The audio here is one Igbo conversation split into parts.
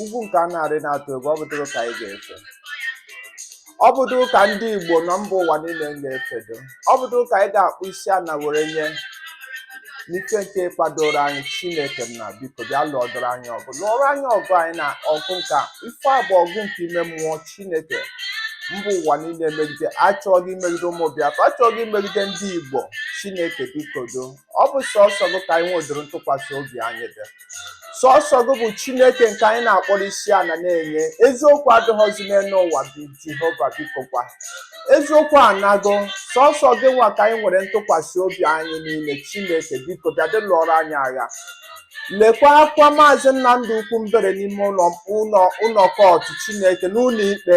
ugwu nke a na-arị na-atụ egwu ọ bụdụrụ ka anyị ga-efe ọ bụdụ ka ndị Igbo nọ mba ụwa niile ga-efedo ọ bụdụ ka anyị ga-akpụ isi ana were nye n'ike nke kwadoro anyị Chineke nna biko bịa lụọdoro anyị ọgụ lụọrọ anyị ọgụ anyị na ọgụ nka ife a bụ ọgụ nke ime mmụọ Chineke mba ụwa niile megide achọghị imegide ụmụ Biafra achọghị imegide ndị Igbo Chineke bikodo ọ bụ sọsọ gị ka anyị nwedoro ntụkwasị obi anyị dị sọsọ gị bụ chineke nke anyị na-akpọrọ isi ana na-enye eziokwu adịghọzi n'enu ụwa bụ jehova biko kwa eziokwu anago sọsọ gị nwa ka anyị nwere ntụkwasị obi anyị n'ime chineke biko bịadụ lụọrọ anyị agha lekwa akwa maazị nnamdị okwu mbere n'ime ụlọ ụlọ ụlọ kọtụ chineke n'ụlọ ikpe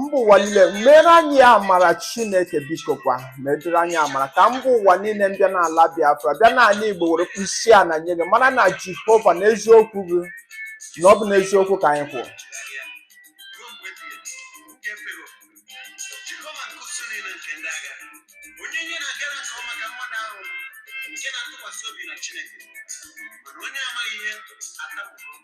mba ụwa niile mere anyị amara chineke biko kwa medere anyị amara ka mba ụwa niile mbịa n'ala biafra bịa n'ala igbo were kpụ isi ana nye gị mara na jehova na eziokwu gị na ọ bụ n'eziokwu ka anyị kwụrụ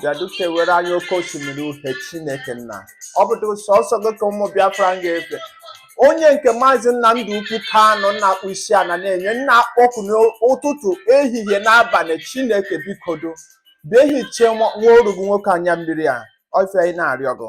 bịadụ kewere anyị oke osimiri uhe chineke nna ọ bụdụ sọsọ gị ka ụmụ biafra nga-efe onye nke maazị nnamdị okwu kanụ na-akpụ isi ana na-enye na-akpọku n'ụtụtụ ehihie n'abanị chineke bikodo bịa hichaa nwa oru gị nwoke anya mmiri a ọ ife anyị na-arịọ gị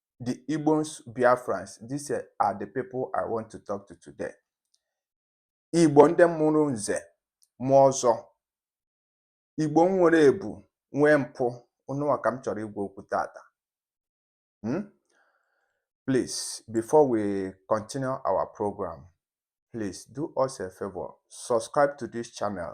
the Igbos Biafrans, these are the people I want to talk to today. Igbo ndị mụrụ nze mụọ ọzọ Igbo nwere ebu nwee mpụ unu nwa ka m chọrọ ịgwa okwu tata hmm? please before we continue our program please do us a favor subscribe to this channel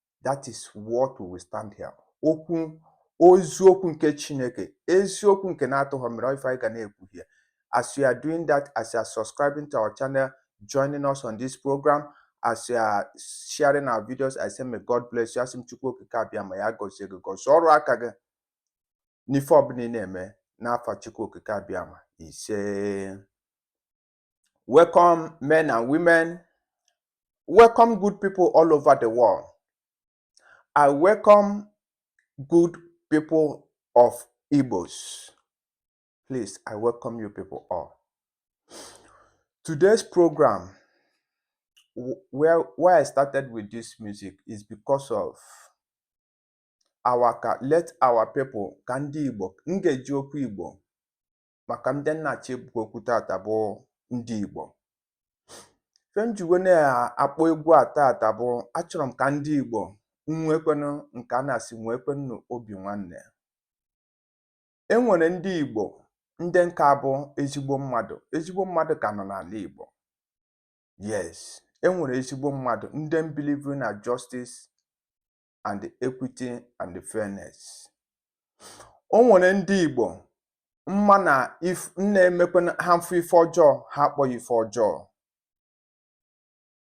That is what we will stand here. Okwu eziokwu nke Chineke, eziokwu nke na-atụghọ mmiri ọ ife anyị ga na-ekwu here. As you are doing that, as you are subscribing to our channel, joining us on this program, as you are sharing our videos, I say may God bless you. Asị m Chukwu Okike Abịama ya gọzie gị gọzie ọrụ aka gị n'ife ọbụla ị na-eme n'afa Chukwu Okike Abịama ise Welcome, men and women. Welcome, good people all over the world. I welcome good people of Igbos. Please, I welcome you people all. Today's program, where, where I started with this music, is because of our let our people ka ndị Igbo m ga-eji okwu Igbo maka ndị m na-achọ ịgwa okwu tata bụ ndị Igbo ife m ji wee na-akpọ egwu a tata bụ achọrọ m ka ndị Igbo nwekwenụ nke a na-asị nwekwenụ obi nwanne e nwere ndị Igbo ndị nka bụ ezigbo mmadụ ezigbo mmadụ ka nọ n'ala Igbo yes e nwere ezigbo mmadụ ndị mbilivuru na justice and equity and fairness. O nwere ndị Igbo mma na if na-emekwa ha mfụ ife ọjọọ ha akpọ ya ife ọjọọ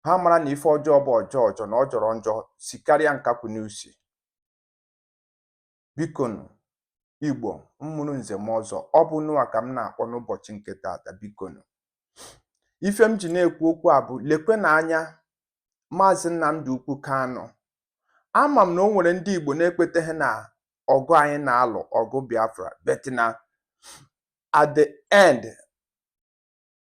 ha mara na ife ọjọọ bụ ọjọọ ọjọọ na ọ jọrọ njọ sikarịa nkakwụ n'usi Bikonu, Igbo mmụrụ nze mụọ ọzọ, ọ bụ ụnụwa ka m na-akpọ n'ụbọchị nke taata, bikonu. Ife m ji na-ekwu okwu a bụ lekwe na anya Maazị Nnamdi Okwu Kanu. Ama m na o nwere ndị Igbo na-ekweteghị na ọgụ anyị na-alụ ọgụ Biafra but na at the end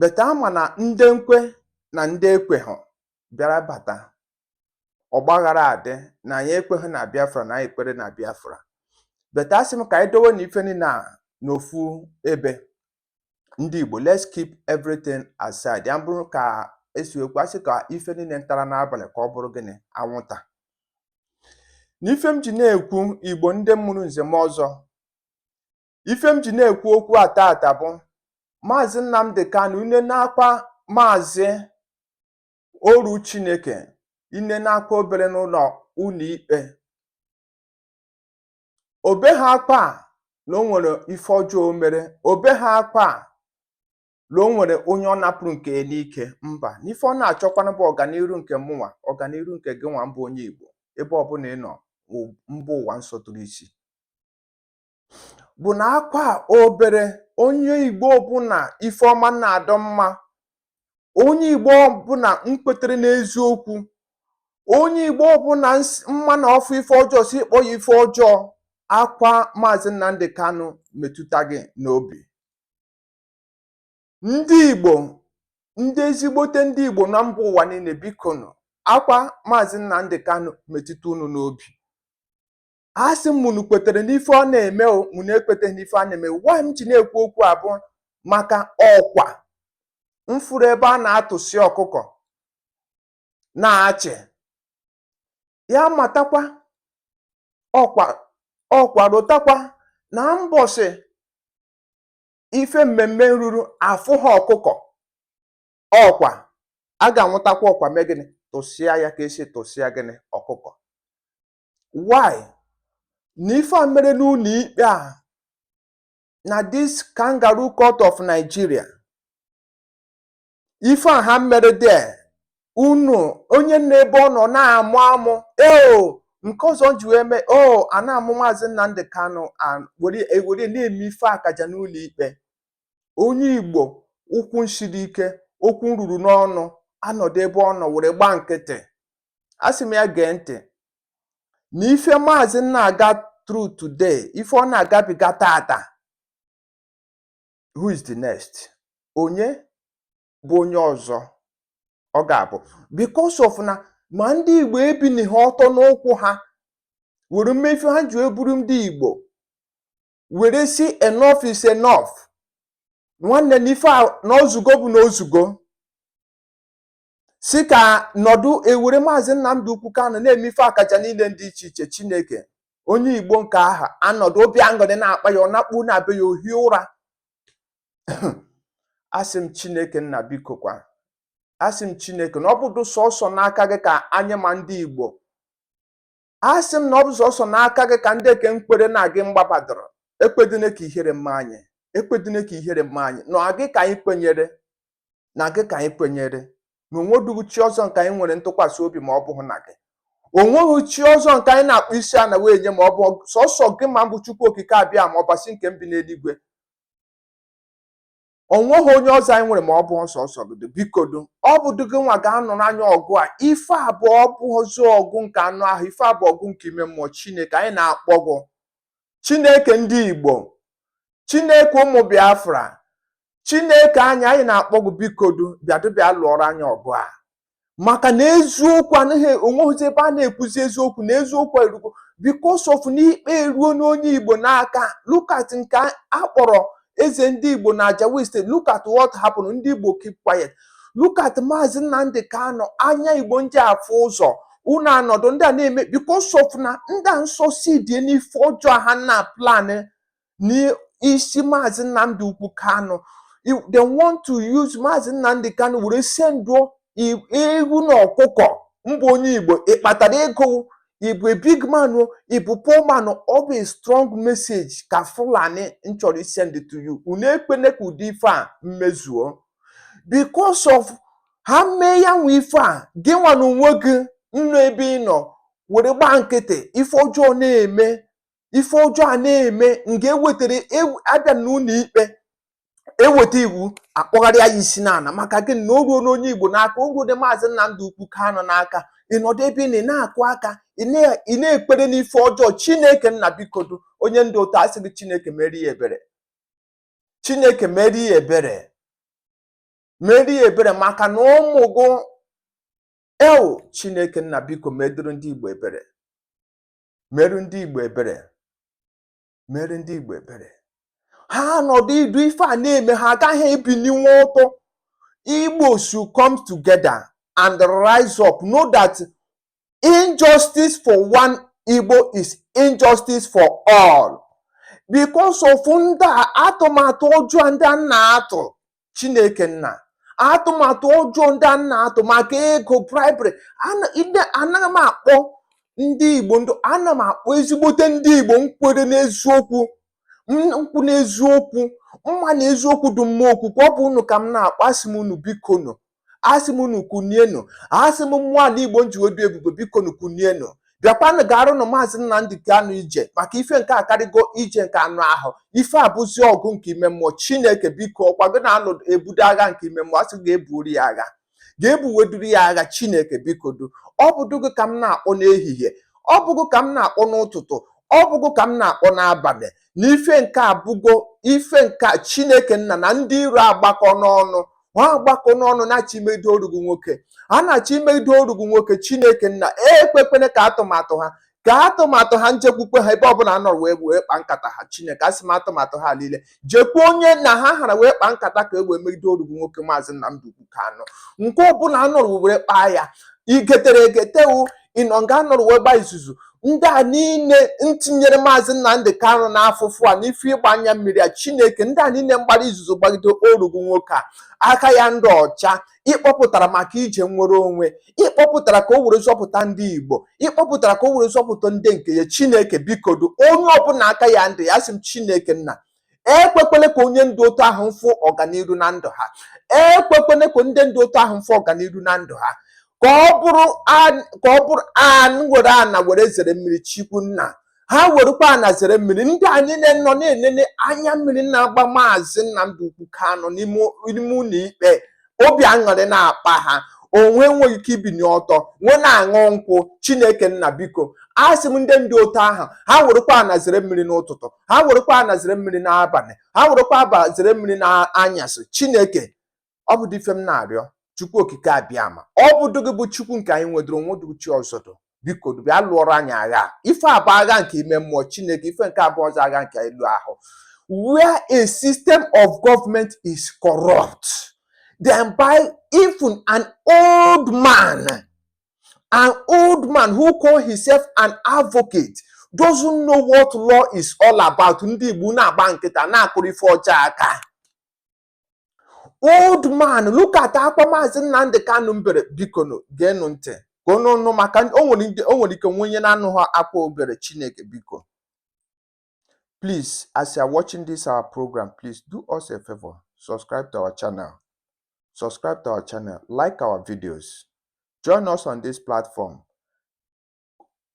but ama na ndị nkwe na ndị ekweghọ bịara bata ọgbaghara adị na anyị ekweghị na Biafra na anyị ekwere na Biafra but asị m ka anyị dowe na ife niile a n'ofu ebe ndị Igbo let's keep everything aside ya bụrụ ka esi ekwu asị ka ife niile ntara n'abalị ka ọ bụrụ gịnị anwụnta na ife m ji na-ekwu Igbo ndị mụrụ nze mụọ ọzọ ife m ji na-ekwu okwu a taata bụ maazị Nnamdi Kanu nee n'akwa maazị oru Chineke nee n'akwa o bere n'ụlọ ụlọ ikpe o beghị akwa na o nwere ife ọjọọ o mere o beghị akwa na o nwere onye ọ napụrụ nke n'ike mba n'ife ọ na-achọkwanụ bụ ọganiru nke mụnwa ọganiru nke gị nwa mbụ onye Igbo ebe ọbụla ị nọ mba ụwa nsọtụrụ isi bụ na akwa a o bere onye Igbo ọbụla ife ọma na-adị mma onye Igbo ọbụla nkwetere n'eziokwu onye Igbo ọbụla ns- mma na ọ fụ ife ọjọọ si kpọ ya ife ọjọọ akwa Maazị Nnamdi Kanu metụta gị n'obi ndị Igbo ndị ezigbote ndị Igbo na mba ụwa niile bikonu akwa Maazị Nnamdi Kanu metụta unu n'obi a sị m ma unu kwetere n'ife ọ na-eme o ma unu ekweteghị n'ife a na-eme why m ji na-ekwu okwu a bụ maka ọkwa mfụrụ ebe a na-atụsị ọkụkọ na-achị ya matakwa ọkwa ọkwa rotakwa na mbọsị ife mmemme ruru afụghị ọkụkọ ọkwa a ga-anwụtakwa ọkwa mee gịnị tụsịa ya ka esi tụsịa gịnị ọkụkọ why na ife a mere n'ụlọ ikpe a na this kangaroo court of Nigeria ife a ha mere there unu onye nọ ebe ọ nọ na-amụ amụ o nke ọzọ ji wee mee o a na-amụ maazị Nnamdi Kanu were na-eme ife akaja n'ụlọ ikpe onye Igbo ụkwụ nshiri ike okwu ruru n'ọnụ anọdụ ebe ọ nọ were gbaa nkịtị asị m ya gee ntị na ife maazị na-aga through today ife ọ na-agabiga tata who is the next onye bụ onye ọzọ ọ ga-abụ because of na ma ndị igbo ebiniha ọtọ n'ụkwụ ha were mee ife ha ji abụrụ ndị igbo were sị enough is enough nwanne na ife a na o zugo bụ na o zugo sị ka nọdụ ewere maazị Nnamdi Okwu Kanu na-eme ife akaja niile dị iche iche Chineke onye Igbo nke aha anọdụ obi aṅụrị na-akpa ya ọ nakpu na be ya o hie ụra asị m Chineke nna bikokwa asị m Chineke na ọ bụdụ sọsọ n'aka gị ka anyị nwa ndị Igbo asị m na ọ bụ sọsọ n'aka gị ka ndị nke nkwere na gị mgbabadoro ekwedịne ka ihere mee anyị ekwedịne ka ihere mee anyị na gị ka anyị kwenyere na gị ka anyị kwenyere na o nwedughị chi ọzọ nke anyị nwere ntụkwasị obi ma ọ bụghị na gị o nweghị chi ọzọ nke anyị na-akpọ isi ana wee nye ma ọ bụ sọsọ gị nwa mbụ chukwu okike abịama ọbasi nke mbi n'eluigwe ọ nweghị onye ọzọ anyị nwere ma ọ bụ sọsọ gị bikodo ọ bụdụ gị nwa ga-anụrụ anyị ọgụ a ife a bụ ọ bụghịzi ọgụ nke anụ ahụ ife a bụ ọgụ nke ime mmụọ chineke anyị na-akpọ gị chineke ndị igbo chineke ụmụ biafra chineke anyị anyị na-akpọ gị bikodo bịadụ bịa lụọrọ anyị ọgụ a maka na eziokwu anaghị o nweghịzi ebe a na-ekwuzi eziokwu na eziokwu erugo because of na ikpe eruo n'onye Igbo n'aka look at nke a a kpọrọ eze ndị Igbo na Ajao Estate look at what happened ndị Igbo keep quiet look at Maazị Nnamdi Kanu anya Igbo ji afụ ụzọ unu anọdụ ndị a na-eme because of na ndị a succeedie n'ife ọjọọ ha na-aplan n'isi maazị Nnamdi Okwu Kanu they want to use maazị Nnamdi Kanu were senduo ewu na ọkụkọ mbụ onye Igbo ị kpatara ego ị bụ a big man o ị bụ poor man ọ bụ a strong message ka Fulani chọrọ isend to you unu ekwene ka ụdị ife a mezuo because of ha mee ya nwa ife a gị nwa na onwe gị nọ ebe ị nọ were gbaa nkịtị ife ọjọọ na-eme ife ọjọọ a na-eme nke ewetara ew- abịa n'ụlọ ikpe eweta iwu akpọgharịa ya isi n'ala maka gịnị o ruo n'onye igbo n'aka o ruo na maazị nnamdi okwu kanu n'aka ị nọdụ ebe ị na- ị na-akụ aka ị na- ị na-ekwere n'ife ọjọọ chineke nna bikodo onye dị otú a asị gị chineke mere ya ebere chineke mere ya ebere mere ya ebere maka na ụmụ gị ewo chineke nna biko medoro ndị igbo ebere merụ ndị Igbo ebere merụ ndị Igbo ebere ha nọdụ idu ife a na-eme ha agaghị ebininwe ọtọ Igbo should come together and rise up know that injustice for one Igbo is injustice for all because of ndị atụmatụ ọjọọ ndị a na-atụ chineke nna atụmatụ ọjọọ ndị a na-atụ maka ego bribery Ana- ide- anaghị m akpọ ndị igbo ndụ ana m akpọ ezigbote ndị igbo nkwere n'eziokwu m- nkwụ n'eziokwu mma na eziokwu dị mma okwukwu ọ bụ unu ka m na-akpọ asị m unu biko nụ asị m unu kunienụ asị m mmụọ ala igbo nji obi ebube biko nu kunienụ bịakwanụ gaarụnụ maazị Nnamdi Kanu ije maka ife nke a akarịgo ije nke anụ ahụ ife a abụzi ọgụ nke ime mmụọ chineke biko ọkwa gị na-anụ ebudo agha nke ime mmụọ asị ga-eburu ya agha ga-ebuweduru ya agha chineke bikodu ọ bụdụ gị ka m na-akpọ n'ehihie ọ bụ gị ka m na-akpọ n'ụtụtụ ọ bụ gị ka m na-akpọ n'abalị na ife nke a abụgo ife nke chineke nna na ndị iro agbakọọna ọnụ ha agbakọọna ọnụ na-achọ imedo oru gị nwoke a na-achọ imedo oru gị nwoke chineke nna ekwekwele ka atụmatụ ha ka atụmatụ ha njekwukwe ha ebe ọbụla a nọrọ wee wee kpa nkata ha chineke asị m atụmatụ ha niile jekwu onye na ha hara wee kpa nkata ka e wee medo oru gị nwoke maazị Nnamdi Ukwu Kanu nke ọbụla a nọrọ were kpaa ya igetere egetewu ị nọ nga a nọrọ wee gba izuzu ndị a niile ntinyere maazị Nnamdị Kanụ n'afụfụ a n'ife ịgba anya mmiri a Chineke ndị a niile mgbara izuzu gbagide oru gị nwoke a aka ya ndị ọcha ịkpọpụtara maka ije nnwere onwe ịkpọpụtara ka o were zọpụta ndị Igbo ịkpọpụtara ka o were zọpụta ndị nke ya Chineke bikodu onye ọbụla aka ya ndị ya asị m Chineke nna ekwekwele ka onye ndu otu ahụ mfụ ọganiru na ndụ ha ekwekwele ka ndị ndu otu ahụ mfụ ọganiru na ndụ ha ka ọ bụrụ ka ọ bụrụ ha nwere ana were zere mmiri chikwu nna ha werekwa ana zere mmiri ndị a niile nọ na-enene anya mmiri na-agba maazị Nnamdi Ukwu Kanu n'ime ụlọ ikpe obi aṅụrị na-akpa ha onwe nweghị ike ibini ọtọ nwe na-aṅụ nkwụ chineke nna biko asị m ndị ndu otu ahụ ha werekwa ana zere mmiri n'ụtụtụ ha werekwa ana zere mmiri n'abalị ha werekwa aba zere mmiri n'anyasị chineke ọ bụdụ ife m na-arịọ chukwu okike abịama ọ bụdụ gị bụ chukwu nke anyị nweduru o nwedu chi ọzọ biko bịa lụọrọ anyị agha ife a bụ agha nke ime mmụọ chineke ife nke a abụọzị agha nke elu ahụ where a system of government is corrupt then by even an old man an old man who call himself an advocate doesn't know what law is all about ndị igbo na-agba nkịta na-akụrụ ife ọjọọ aka old man look at akwa maazị Nnamdị Kanụ mbere bikonu geenụ ntị ka unu nụ maka o nwere ndị- o nwere ike nwee onye na-anụghị akwa o bere Chineke biko please as you are watching this our program please do us a favor subscribe to our channel subscribe to our channel like our videos join us on this platform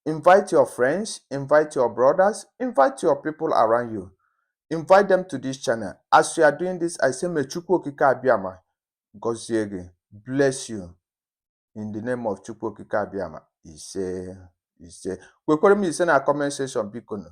Invite your friends, invite your brothers, invite your people around you. Invite them to this channel. As you are doing this, I say, Mechukwu Okike Abiyama, gozie gị, bless you. In the name of Chukwu Okike Abiyama, ise, ise. Kwekwere m ise na comment section, biko nụ.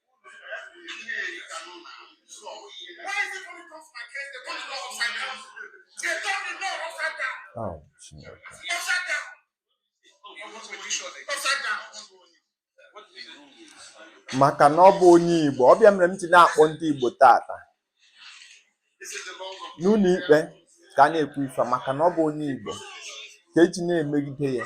Oh, Chineke. maka na ọ bụ onye Igbo ọ bụ ya mere m ji na-akpọ ndị Igbo tata n'ụlọ ikpe ka a na-ekwu ife maka na ọ bụ onye Igbo ka e ji na-emegide ya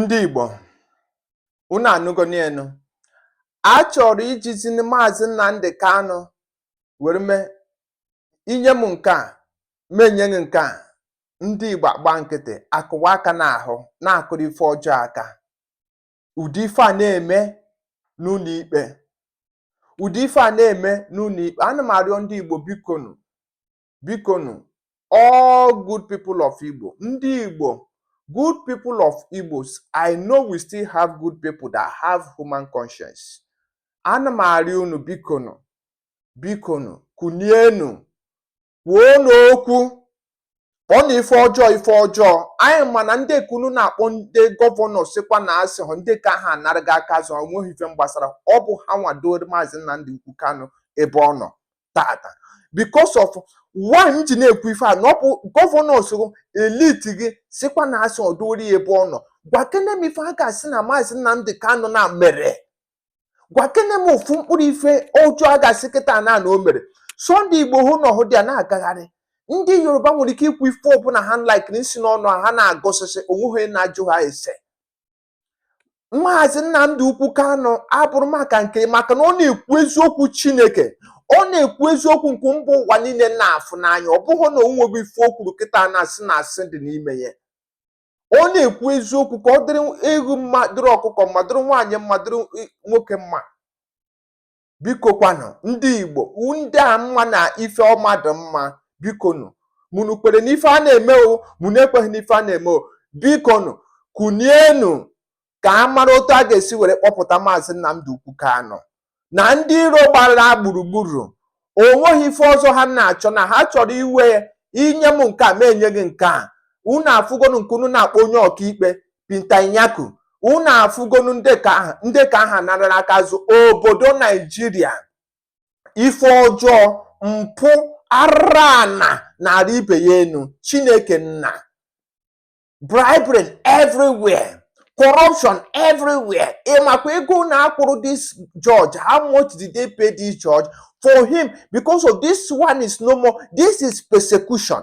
ndị Igbo unu anụgonu a chọrọ ijizi maazị Nnamdi Kanu were mee i nye m nke a m enye gị nke a ndị Igbo agba nkịtị akụwa aka n'ahụ na-akụrụ ife ọjọọ aka ụdị ife a na-eme n'ụlọ ikpe ụdị ife a na-eme n'ụlọ ikpe ana m arịọ ndị Igbo bikonu bikonu all good people of Igbo ndị Igbo good people of Igbos I know we still have good people that have human conscience ana m arịọ unu bikonu bikonu kunienu kwuonu okwu kpọọnụ ife ọjọọ ife ọjọọ anyị ma na ndị nke unu na-akpọ ndị gọvanọ sịkwa na asị hụ ndị ka ha anarago aka azụ onweghị ife mgbasara ọ bụ ha nwadoro maazị Nnamdi Okwu Kanu ebe ọ nọ tata because of why m ji na-ekwu ife a na ọ bụ gọvanọs or elite gị sịkwa na asị dowere ya ebe ọ nọ gwakene m ife a ga-asị na maazị Nnamdị Kanụ na mere gwakene m ofu mkpụrụ ife ọjọọ a ga-asị kịta na na o mere Sunday Igboho nọ out there na-agagharị ndị Yoruba nwere ike ikwu ife ọbụla ha like na-esi n'ọnụ ha ha na-agọsịsị onweghị onye na-ajụ ha ese maazị Nnamdi Okwu Kanu abụrụ maka nke maka na ọ na-ekwu eziokwu Chineke ọ na-ekwu eziokwu nke mba ụwa niile na-afụ n'anya ọ bụghị na o nwere ife o kwuru kịta a na-asị na asị dị n'ime ya ọ na-ekwu eziokwu ka ọ dịrị ewu mma dịrị ọkụkọ mma dịrị nwaanyị mma dịrị nwoke mma bikokwanụ ndị igbo ndị a ma na ife ọma dị mma bikonu ma unu kwere n'ife a na-eme o ma unu ekweghị n'ife a na-eme o bikonu kunienu ka a mara otu a ga-esi were kpọpụta maazị Nnamdi Okwu Kanu na ndị iro gbara gburugburu onweghị ife ọzọ ha na-achọ na ha chọrọ iwe i nye m nke a m enye gị nke a unu afụgonu nke unu na-akpọ onye ọkaikpe Binta Nyako unu afụgonu ndị ka aha ndị ka aha nara aka azụ obodo naijiria ife ọjọọ mpụ arụ ana na-arị ibe ya enu chineke nna bribery everywhere corruption everywhere ị makwa ego one a kwụrụ this judge how much did they pay this judge for him because of this one is no more this is persecution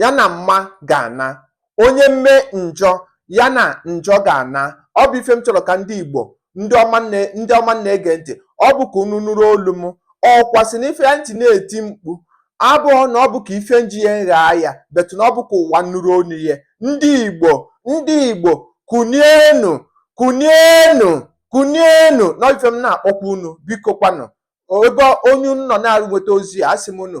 ya na mma ga-ana onye mme njọ ya na njọ ga-ana ọ bụ ife m chọrọ ka ndị Igbo ndị ọma na-ege ntị ọ bụ ka unu nụrụ olu m ọkụkọ sị na ife ya nji na-eti mkpu abụrọ na ọ bụ ka ife nji ya nghaa ya but na ọ bụ ka ụwa nụrụ olu ya ndị Igbo ndị Igbo kunienu kunienu kunienu na ọ bụ ife m na-akpọku unu biko kwanụ ebe onye unu nọ na-arụ nweta ozi a asị m unu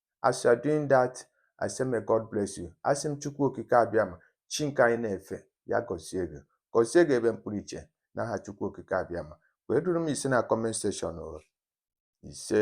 as you are doing that I say may God bless you asị m Chukwu Okike Abịama chi nke anyị na-efe ya gọzie gị gọzie gị ebe mkpụrụ iche n'aha Chukwu Okike Abịama wee deere m ise na comment section o ise